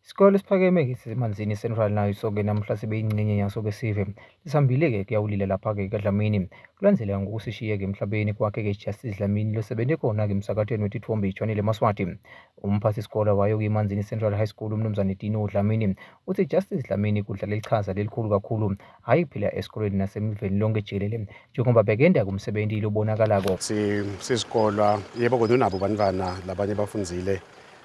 Isikole esiphakeme-ke siseManzini Central nayo soke namuhla sibe ingxenye yaso ke sive. Lisihambile-ke kuyawulila lapha-ke kaDlamini. Kulandzeleka ngokusishiye-ke emhlabeni kwakhe-ke iJustice Dlamini losebenze khona-ke emsakathweni wetitfombe iChannel Maswati. Umphathisikole wayo kuyiManzini Central High School uMnumzane Tino Dlamini uthi iJustice Dlamini kudlala ichaza lelikhulu kakhulu hhayi kuphela esikoleni nasemiveni lonke jikelele njengoba bekenda kumsebenzi lobonakalako. Sizikolwa yebo kodwa unabo bantwana labanye bafundzile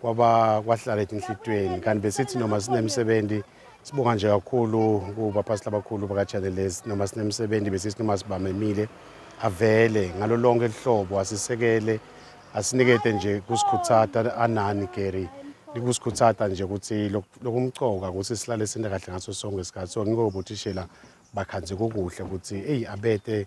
kwaba kwahlala etinhlitweni kanti besithi noma sinemsebenzi sibonga nje kakhulu kubapastor abakhulu bakaChannel lesi noma sinemsebenzi besithi noma sibamemile avele ngalo lonke lihlobo asisekele asinikete nje kusikhuthata anani Gary likusikhuthata nje ukuthi lokumcoka ukuthi silale sinde kahle ngaso sonke isikhathi so ngiko bothishela bakhanze kokuhle ukuthi eyi abete